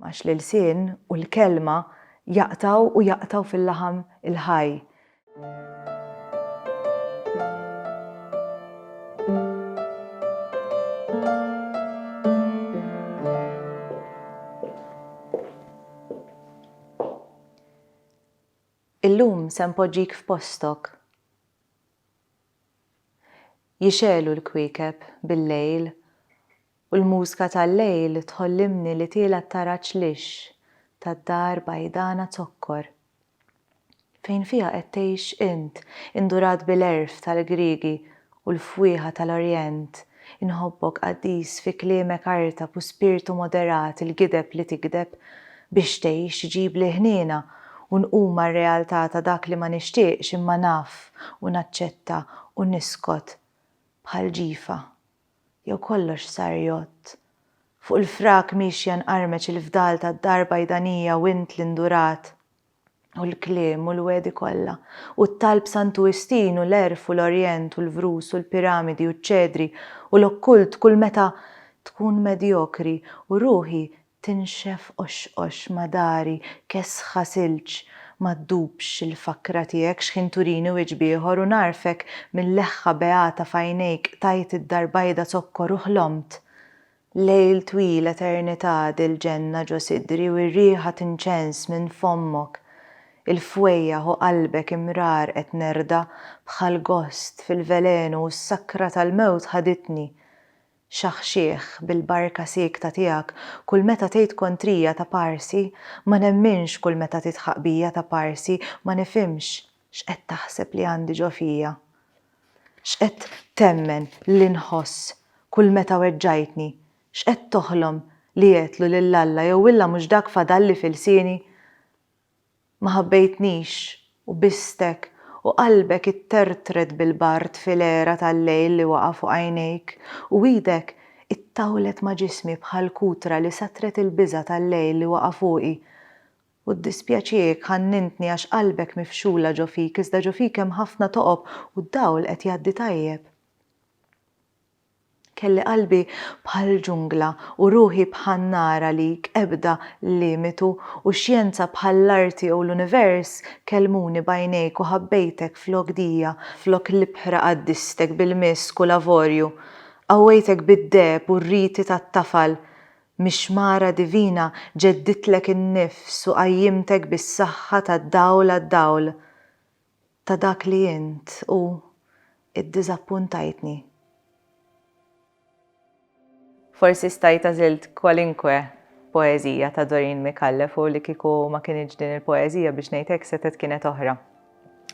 Għax l-ilsien u l-kelma jaqtgħu u jaqtgħu fil-laħam il-ħaj. Illum se npoġġik f'postok. Jixegħlu l-kwiekeb bil-lejl u l-mużka tal-lejl tħollimni li tiela' t-taraġ lixx tad-dar bajdana zokkor fejn fiha qed tgħix int indurat bil-għerf tal-Griegi u l-fwieħa tal-Orjent Inħobbok Qaddis fi kliemek artab u spirtu moderat il-gideb li tigdeb biex tgħix iġibli ħniena u nqum mar-realtà ta' dak li ma nixtieqx imma naf u naċċetta u niskot bħal ġifa jew kollox sar jgħodd fuq il-frak miexja nqarmeċ il-fdal tad-dar bajdanija u int l-indurat u l-kliem u l-wegħdi kollha, u t-talb b'Santu Wistin u l-għerf u l-Orjent u l-vrus u l-piramidi u ċ-ċedri u l-okkult kull meta tkun medjokri u ruħi tinxef qoxqox ma' dari kesħa silġ ma ddubx il-fakra tiegħek x'ħin turini wieġb ieħor u ngħarfek mil-leħħa beata f'għajnejk qtajt id-dar bajda zokkor u ħlomt Lejl twil eternità dil-ġenna ġo sidri u r-riħa tinċens minn fommok Il-fwejjaħ u qalbek imrar qed nerda bħal gost fil-velenu u s-sakra tal-mewt ħaditni Xaħxieħ bil-barka siekta tiegħek kull meta tgħid kontrija ta' parsi Ma nemminx kull meta tidħaq bija ta' parsi Ma nifhimx X'qed taħseb li għandi ġo fija? X'qed temmen li nħoss kull meta weġġajtni? X'qed toħlom li għedtlu lil Alla jew illa mhux dak fadalli f'ilsieni? Ma ħabbejtnix u bistek u qalbek ittertret bil-bard fil-għera tal-lejl li waqa' fuq għajnejk u idek ittawlet ma' ġismi bħal kutra li satret il-biża' tal-lejl li waqa' fuqi U ddispjaċiek, ħannintni, għax qalbek mifxula ġo fik, iżda ġo fik hemm ħafna toqob, u d-dawl qed jgħaddi tajjeb. Kelli qalbi bħall-ġungla, u ruħi bħan-nar għalik, ebda limitu, u x-xjenza bħall-arti jew l-univers, kellmuni b'għajnejk u ħabbejtek flok dija, flok l-ibħra qaddistek bil-misk u l-avorju, qawwejtek bid-deheb u r-riti tat-tafal, Mix-xmara divina ġedditlek in-nifs u qajjimtek bis-saħħa tad-dawl għad-dawl ta' dak li int u iddiżappuntajtni. Forsi stajt għażilt kwalinkwe poeżija ta' Doreen Micallef u li kieku ma kinitx din il-poeżija biex ngħid hekk setgħet kienet oħra.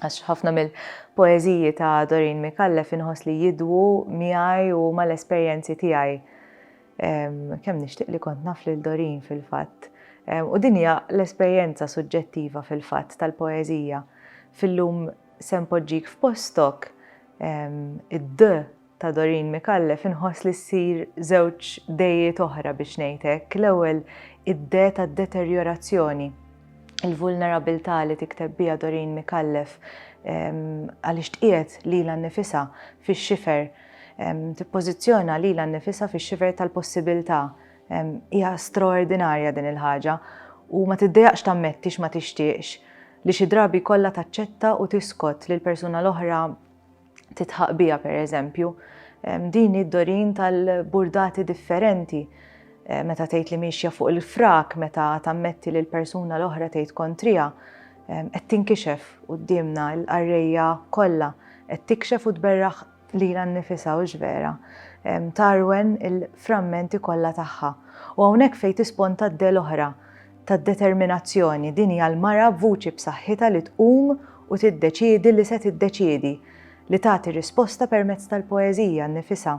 Għax ħafna mill-poeżiji ta' Doreen Micallef inħoss li jidwu miegħi u mal-esperjenzi tiegħi. Kemm nixtieq li kont naf lil Doreen fil-fatt. U din hija l-esperjenza suġġettiva fil-fatt tal-poeżija. Fil-lum se npoġġik f'postok, id-D ta' Doreen Micallef inħoss li ssir żewġ D'ijiet oħra biex ngħid hekk. L-ewwel id-D tad-deterjorazzjoni, il-vulnerabilità li tikteb biha Doreen Micallef għaliex tqiegħed lilha nnifisha fix-xifer Tippożizzjona lilha nnifisha fix-xifer tal-possibiltà. Hija straordinarja din il-ħaġa u ma tiddejaqx tammetti x'ma tixtieqx li xi drabi jkollha taċċetta u tiskot li l-persuna l-oħra titħaq biha pereżempju. Din hi d-dorin tal-burdati differenti meta tgħid li miexja fuq il-frak meta tammetti li l-persuna l-oħra tgħid kontriha Qed tinkixef quddiemna l-qarrejja kollha, qed tikxef u tberraħ lilha nnifisha, hux vera? Tarwen il-frammenti kollha tagħha. U hawnhekk fejn tisponta d-de l-oħra tad-determinazzjoni, din hija l-mara b'vuċi b'saħħitha li tqum u tiddeċiedi li se tiddeċiedi, li tagħti risposta permezz tal-poeżija nnifisha.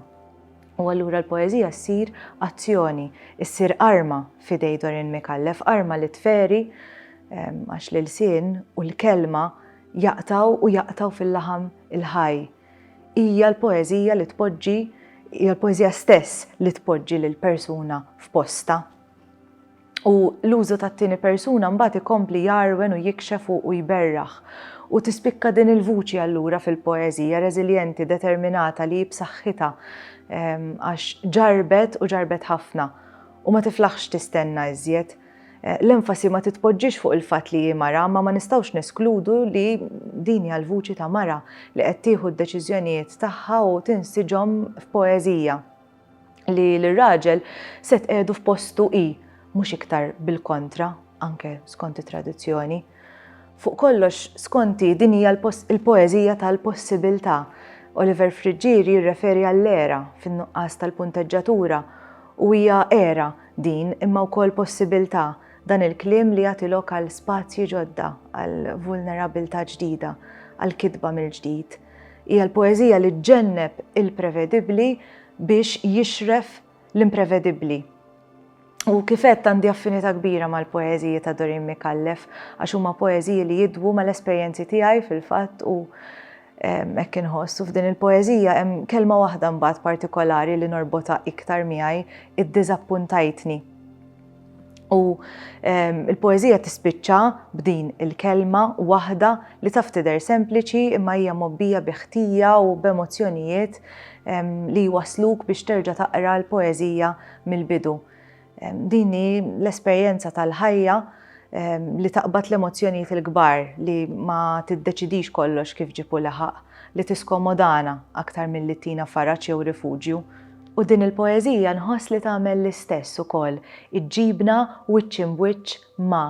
U allura l-poeżija ssir azzjoni, issir arma f'idej Dorin Micallef, arma li tferi għax l-ilsien u l-kelma jaqtgħu u jaqtgħu fil-laħam il-ħaj. Hija l-poeżija li tpoġġi, hija l-poeżija stess li tpoġġi lill-persuna f'postha. U l-użu tat-tieni persuna mbagħad ikompli jgħarwen u jikxef u u jberraħ. U tispikka din il-vuċi allura fil-poeżija, reżiljenti, determinata li hi b'saħħitha għax ġarrbet u ġarrbet ħafna u ma tiflaħx tistenna iżjed. L-enfasi ma titpoġġiex fuq il-fatt li hi mara imma ma nistgħux neskludu li din hija l-vuċi ta' mara li qed tieħu d-deċiżjonijiet tagħha u tinsiġhom f'poeżija. li l-raġel se tqiegħdu f'postu hi, mhux iktar bil-kontra, anke skont it-tradizzjoni. Fuq kollox, skonti din hija l-poeżija tal-possibilità. Oliver Friggieri jirreferi għall-era fin-nuqqas tal-punteġġatura u hija era din imma wkoll possibilità dan il-kliem li jagħti lok għal spazji ġodda, għal vulnerabilità ġdida, għal kitba mill-ġdid. Hija l-poeżija li ġġenneb il-prevedibbli biex jixref l-imprevedibbli. U kif għedt għandi affinità kbira mal-poeżiji ta' Doreen Micallef għax huma poeżiji li jidwu mal-esperjenzi tiegħi fil-fatt u hekk inħoss. U f'din il-poeżija hemm kelma waħda mbagħad partikolari li norbotha iktar miegħi, id-diżappuntajtni. U l-poeżija tispiċċa b'din il-kelma waħda li taf tidher sempliċi imma hija mobbija bi ħtija u b'emozzjonijiet li jwasluk biex terġa' taqra l-poeżija mill-bidu. Din hi l-esperjenza tal-ħajja li taqbad l-emozzjonijiet il-kbar li ma tiddeċidix kollox kif ġipu laħaq, li tiskomodana aktar milli tina faraġ jew rifuġju. U din il-poeżija nħoss li tagħmel l-istess ukoll, iġġibna wiċċ imb wiċċ ma'.